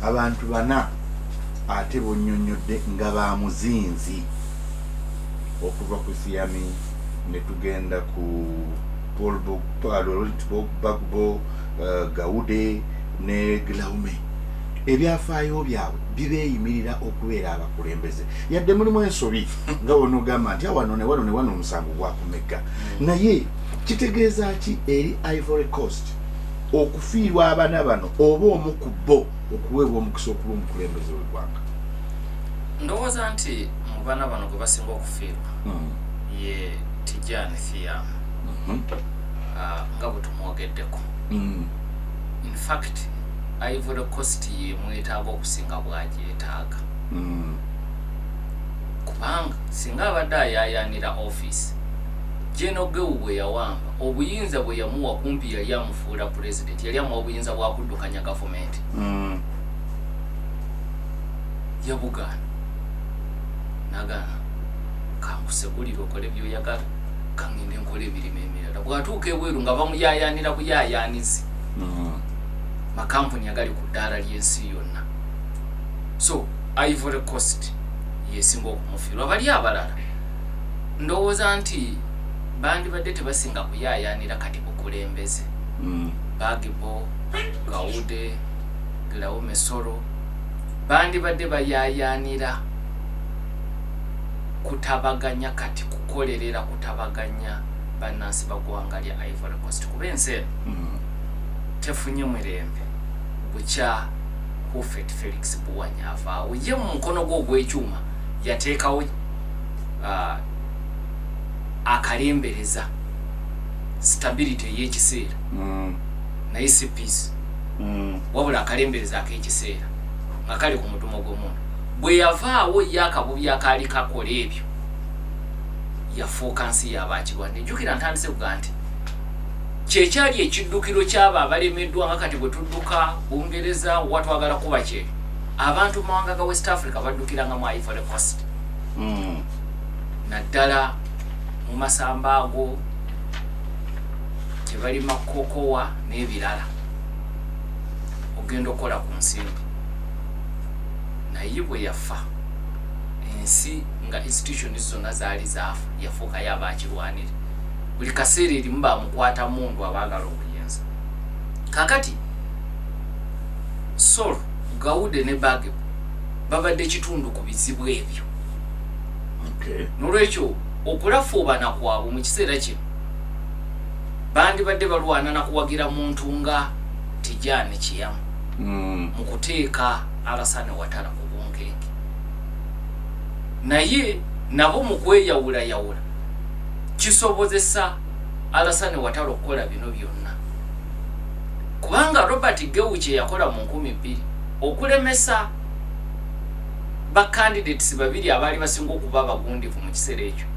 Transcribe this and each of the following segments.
abantu bana ate bonyonyodde nga ba muzinzi okuva ku siyami ne tugenda ku bagbo eh, gawude ne glaume ebyafaayo byabwe bibeeyimirira okubeera abakulembeze yadde mulimu ensobi nga wona ogamba nti awano newano newano omusango gwakumegga mm. naye kitegeeza ki eri ivory coast okufiirwa abana bano oba omu ku bo okuweebwa omukisa okuba omukulembeze w'eggwanga ndowooza nti mu bana bano gwe basinga okufiirwa hmm. ye tijani thiam mhm. ah, nga bwe tumwogeddeko hmm. infact ivory cost yemwetaaga okusinga bwagyetaaga hmm. kubanga singa abadde ayayanira office jenogewu bwe yawamba Obuyinza bwe yamuwa kumpi yali amufuula Pulezidenti, yali amuwa buyinza bwa kuddukanya gavumenti. Yabugaana. Nagaana, kankusegulire okole by'oyagala, kangende nkole emirimu emirala. Bw'atuuka ebweru nga bamuyaayaanira buyaayaanizi. Makampuni agali ku ddaala ly'ensi yonna. So, Ivory Coast yesinga okumufiirwa. Bali abalala. Ndowooza nti bandibadde tebasinga kuyaayaanira kati bukulembeze. Bagbo, Gaude, Glaume Soro bandibadde bayaayaanira kutabaganya kati kukolerera kutabaganya bannansi ba ggwanga lya Ivory Coast kuba ensi eno tefunye mirembe bukya Hufet Felix Buwanya avaawo ye mu mukono gwe ogw'ekyuma yateekawo uh, akalembereza stability eyekiseera mm. naye si peace mm. wabula akalembereza akekiseera nga kali ku mudumo gw'omuntu bwe yavaawo ye akabubi akaali kakola ebyo yafuuka nsi yabakirwadde njukira ntandise kuga nti kyekyali ekiddukiro kyabo abalemeddwa nga kati bwe tudduka bungereza watwagala kuba kyebyo abantu mumawanga ga west africa baddukiranga mu ivory cost hmm. naddala mu masamba ago tebalima kokowa n'ebirala ogenda okukola ku nsimbi naye bwe yafa ensi nga institution zonna zaali zaafa yafuukayo abakirwanire buli kaseera erimu bamukwata mundu abaagala obuyinza kakati Sor. Gaude ne Bagebo babadde kitundu ku bizibu ebyo. N'olwekyo, okulafuubana kwabwe mu kiseera kino bandibadde balwana na kuwagira muntu nga Tijani Chiam hmm. mu kuteeka Alasane Watara ku bunkenke. Naye nabo mu kweyawulayawula kisobozesa Alasane Watara okukola bino byonna. Kubanga Robert Gewu kye yakola mu nkumi bbiri okulemesa ba candidates babiri abaali basinga okuba abagundivu mu kiseera ekyo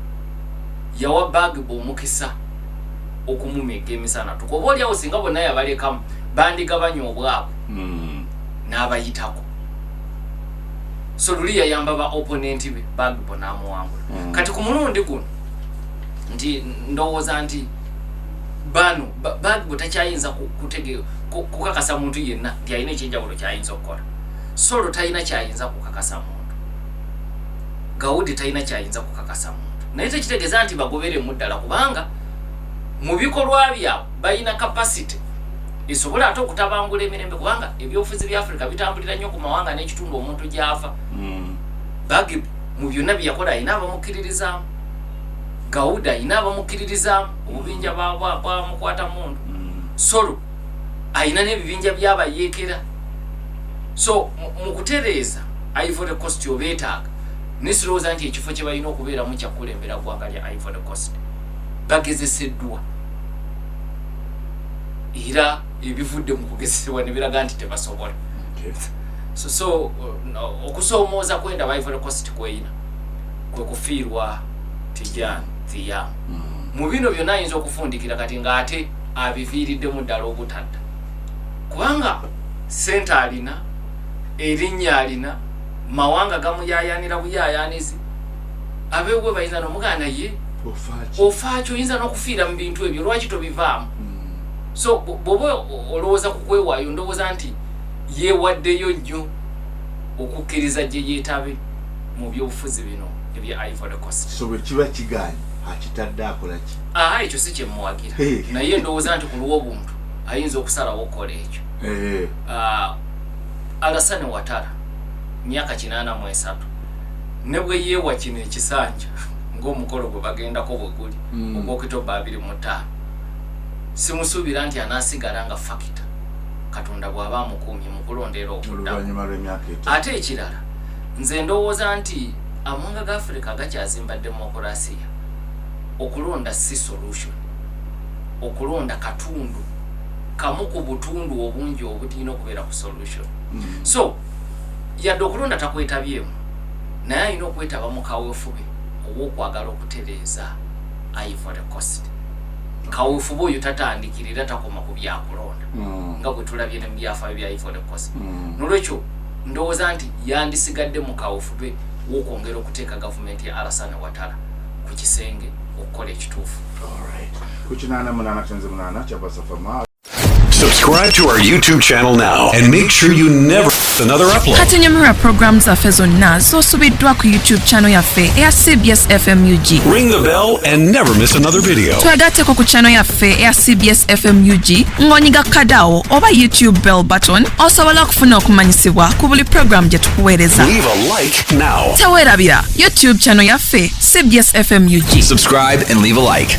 yawa Bagbo omukisa okumumegga emisana tuka oba olyawo singa bonna yabalekamu bandigabanya obwabwe hmm. n'abayitako so luli yayamba ba opponent be Bagbo n'amuwangula hmm. kati ku mulundi guno nti ndowooza nti bano bagwe takyayinza kukakasa muntu yenna nti alina ekyenjawulo kyayinza okukola solo talina kyayinza kukakasa muntu gawudi talina kyayinza kukakasa muntu naye tekitegeeza nti bagoberemu ddala kubanga mu bikolwa byabwe balina kapasite esobola ate okutabangula emirembe kubanga ebyobufuzi bya afirika bitambulira nnyo ku mawanga n'ekitundu omuntu gy'ava hmm. bagibu mu byonna byeyakola alina abamukkiririzaamu gawuda ina abamukkiririzaamu obubinja bwamukwata mundu solo ayina n'ebibinja byabayeekera so mu kutereeza ivory cost obeetaaga nesirowooza nti ekifo kye balina okubeeramu kyakukulembera ggwanga lya ivory cost bagezeseddwa era ebivudde mu kugezesebwa ne biraga nti tebasobola so so uh, okusoomooza kwendaba ivory cost kweyina kwe kufiirwa Tijan Thia. Mu bino byonna ayinza okufundikira kati ng'ate abiviiriddemu ddala obutadda kubanga ssente alina, erinnya alina, mawanga gamuyaayaanira buyaayaanizi, abeewuwe bayinza n'omugamba naye ofaaki oyinza n'okufiira mu bintu ebyo lwaki tobivaamu? So bw'oba olowooza ku kwewaayo ndowooza nti yeewaddeyo nnyo okukkiriza gye yeetabe. mu byobufuzi bino ebya Ivory Coast. So bwe kiba kigaanyi akitadde akola ki? Aha, ekyo si kye mmuwagira naye ndowooza nti ku lw'obuntu ayinza okusalawo okukola ekyo. Ah, Alassane Ouattara myaka kinaana mu esatu ne bwe yeewa kino ekisanja ng'omukolo gwe bagendako bwe guli mm. ogw'okitoba abiri mu ttaano simusuubira nti anaasigala nga fakita katonda bw'aba amukuumye mu kulondeera okuddamu ate ekirala Nze ndowooza nti amawanga ga Africa gakyazimba demokulasiya. Okulonda ssi solution. Okulonda katundu kamu ku butundu obungi obulina okubeera ku solution. Mm. So, yadde okulonda takwetabyemu, naye alina okwetaba mu kawefube ow'okwagala okutereeza Ivory Coast. Kawefube oyo tatandikira era takoma ku byakulonda. Mm. Nga bwe tulabye ne mu byafaayo bya Ivory Coast. Mm. Nolwekyo, Ndowooza nti yandisigadde mu kaawefube w'okwongera okuteeka gavumenti ya Alasan Ouattara ku kisenge okukola ekituufu. Subscribe to our YouTube channel now and make sure you never miss another upload. Kati nyumirwa program zaffe zonna z'osubiddwa ku YouTube channel yaffe eya CBS FMUG. Ring the bell and never miss another video. Twegatteko ku channel yaffe. yaffe eya cbs fm ug ng'onyiga kadawo oba youtube bell button osobola okufuna okumanyisibwa ku buli pulogulaamu gye tukuweereza Leave a like now. teweerabira youtube channel yaffe cbs fm ug Subscribe and leave a like.